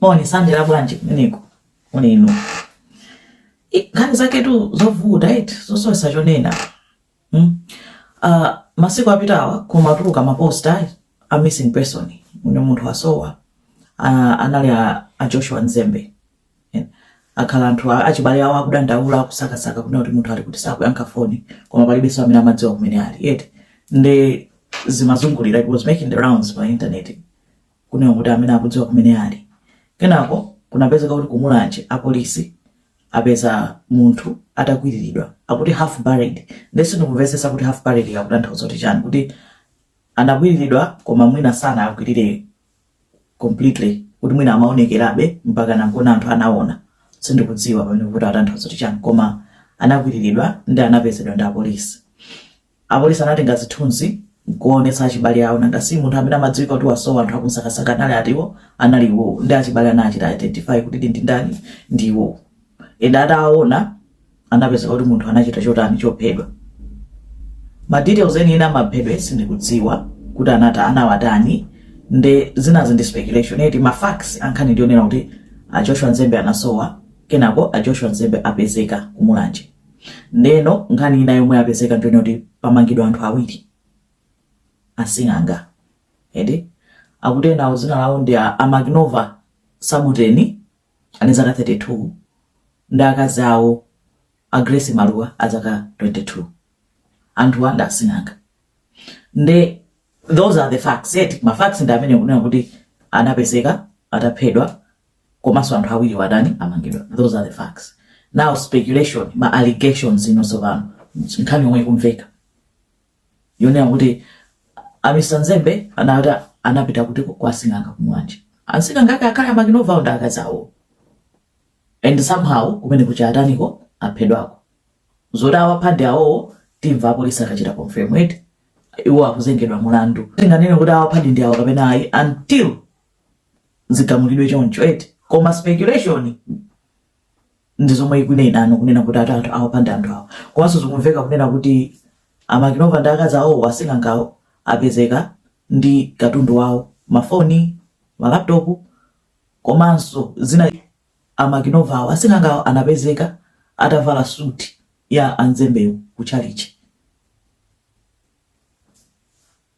Moni sandela bwanji kumeneko moni inu I- nkhani zaketu zovuta eti zosowesa chonena mm? uh, masiku apitawa kumatuluka maposta a missing person une munthu wasowa uh, anali a, a Joshua Mzembe Eh, akhala anthu a- achibale awo akudandaula akusakasaka kunena kuti munthu ali kuti sakuyankha foni koma palibenso amene amadziwa kumene ali eti nde zimazungulira it was making the rounds pa internet kunena kuti amene akudziwa kumene ali. Kenako kunapezeka kuti ku Mulanje apolisi apeza munthu atakwiriridwa akuti half buried. Nde sindikumvetsetsa kuti half buried akutanthauza kuti chani kuti anakwiriridwa koma mwina sanakwirire completely kuti mwina amaonekerabe mpaka nankona anthu anaona sindikudziwa pamene kuti atanthauza kuti chani koma anakwiriridwa ndi anapezedwa ndi apolisi. Apolisi anatenga zithunzi nkuwaonetsa achibale awo nanga si munthu amene amadziwika kuti wasowa anthu akumsakasaka anali ati iwo anali iwowo ndi achibale anachita identify kuti ndi ndani ndi iwowo and atawaona anapezeka kuti munthu anachita chotani chophedwa ma details enieni amaphedwe sindikudziwa kuti anata anawatani nde zinazi ndi speculation eti ma facts ankhani ndi onena kuti a Joshua Mzembe anasowa kenako a Joshua Mzembe apezeka ku Mulanje Ndeno nkhani ina yomwe yapezeka ndiyonena kuti pamangidwa anthu awiri asing'anga eti akuti enawo dzina lawo ndi a, a Magnova Sabuteni ali ndi zaka 32 ndi akazi awo a Grace Maluwa a zaka 22 anthuwa ndi asing'anga nde those are the facts eti ma facts ndi amene kunena kuti anapezeka ataphedwa komanso anthu awiriwa atani amangidwa those are the facts now speculation ma allegations ino tsopano nkhani yomwe ikumveka yonena kuti a Mr Mzembe anati anapita kuti kwa asing'anga ku Mulanje asing'anga ake akhala a Magnova ndi akazi awo and somehow kumeneko ataniko aphedwako zoti awapha ndi awowo timva apolisi akachita confirm eti iwo akuzengedwa mlandu sitinganene kuti awapha ndi awo kapena ayi until zigamulidwe choncho eti koma speculation ndi zomwe ikunenano kunena kuti ati anthu awapha ndi anthu awo komanso zikumveka kunena kuti a Magnova ndi akazi awowo asing'angawo apezeka ndi katundu wawo mafoni malaptopu komanso zina a Magnova awo asing'angawo anapezeka atavala suti ya a Mzembewo ku chalichi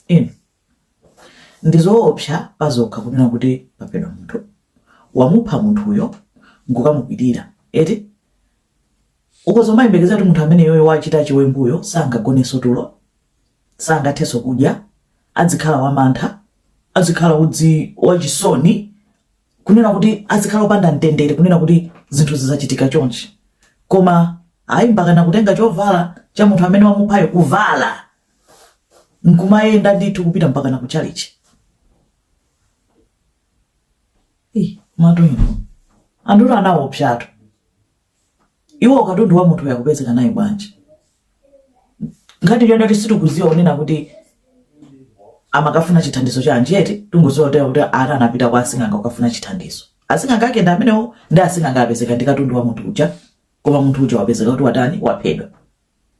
inu ndizoopsa pazokha kunena kuti paphedwa munthu wamupha munthuyo nkukamukwilira eti ukuzomayembekeza kuti munthu ameneyoyo wachita chiwembuyo sangagoneso tulo sangatheso kudya adzikhala wamantha adzikhala kuti wachisoni kunena kuti adzikhala opanda mtendere kunena kuti zinthu zizachitika chonchi koma ayi mpakana kutenga chovala cha munthu amene wamuphayo kuvala nkumayenda ndithu kupita mpakana ku chalichi madzulo ano anthu anaopsatu iwo katundu wa munthu yakupezeka naye bwanji ngati iyo ndati sitikuziwa kunena kuti amakafuna chithandizo cha anjati tingozotera kuti ana anapita kwa asing'anga kukafuna chithandizo asing'anga ake ndi amenewo ndi asing'anga apezeka ndi katundu wa munthu uja koma munthu uja wapezeka kuti watani waphedwa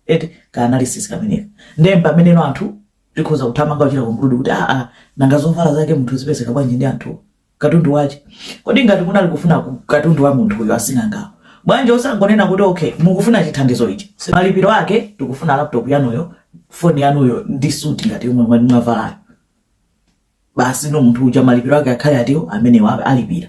eti ka analysis kameneka ndiye pameneno anthu tikhoza kuthamanga kuchita conclude kuti aa ah, ah, nanga zovala zake munthu zipezeka bwanji ndi anthu katundu wache kodi ngati kunali kufuna katundu wa munthu uyo asing'angawo bwanji osangonena kuti okay mukufuna chithandizo ichi malipiro ake tikufuna laptop yanuyo foni yanuyo ndi suti ngati yomwe mwavalayo basino munthu uja malipiro ake akhale ati omwewa alipira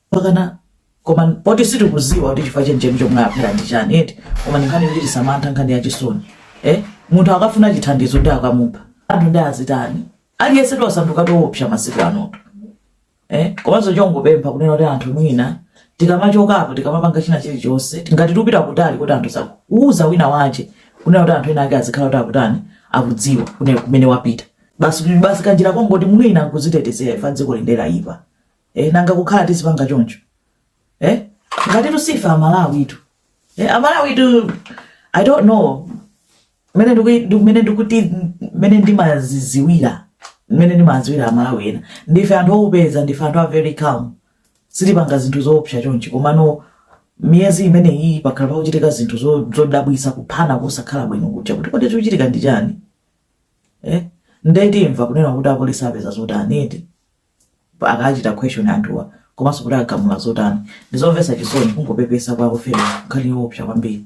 pakana koma poti sitikuziwa kuti chifukwa chenicheni chomwe amuphera ndi chani eti koma ndi nkhani yoti tisamantha nkhani ya chisoni eh? munthu akafuna chithandizo nde akamupha anthu nde azitani aliyense tasanduka oopsa masiku anotu eh? komanso chongopempha kunena kuti anthu mwina tikamachokapo tikamapanga china chilichonse ngati tupita kutali kuti anthu osakuuza wina wache kunena kuti anthu ena ake azikhala kuti akutani akudziwa kunena kumene wapita Basi kuti basi kanjira kongoti mwina nkuzitetezera ife dziko lino laipa. Eh, nanga kukhala tisipanga choncho. Eh? Ngati ife Amalawitu. Eh, Amalawitu I don't know. Mene ndiku mene ndikuti mene ndimaziziwira. Mene ndimaziwira Amalawi ena. Ndife anthu ofatsa ndife anthu a very calm. Sitipanga zinthu zoopsa chonchi komano miyezi imene iyi pakhala pakuchitika zinthu zo- zodabwisa kuphana kusakhala bwino kuchita kuti kodi chikuchitika ndi chani? eh? nde timva kunena kuti apolisi apeza zotani eti akachita question anthuwa komanso kuti agamula zotani ndizomvetsa chisoni kungopepesa kwa oferedwa nkhani yoopsa kwambiri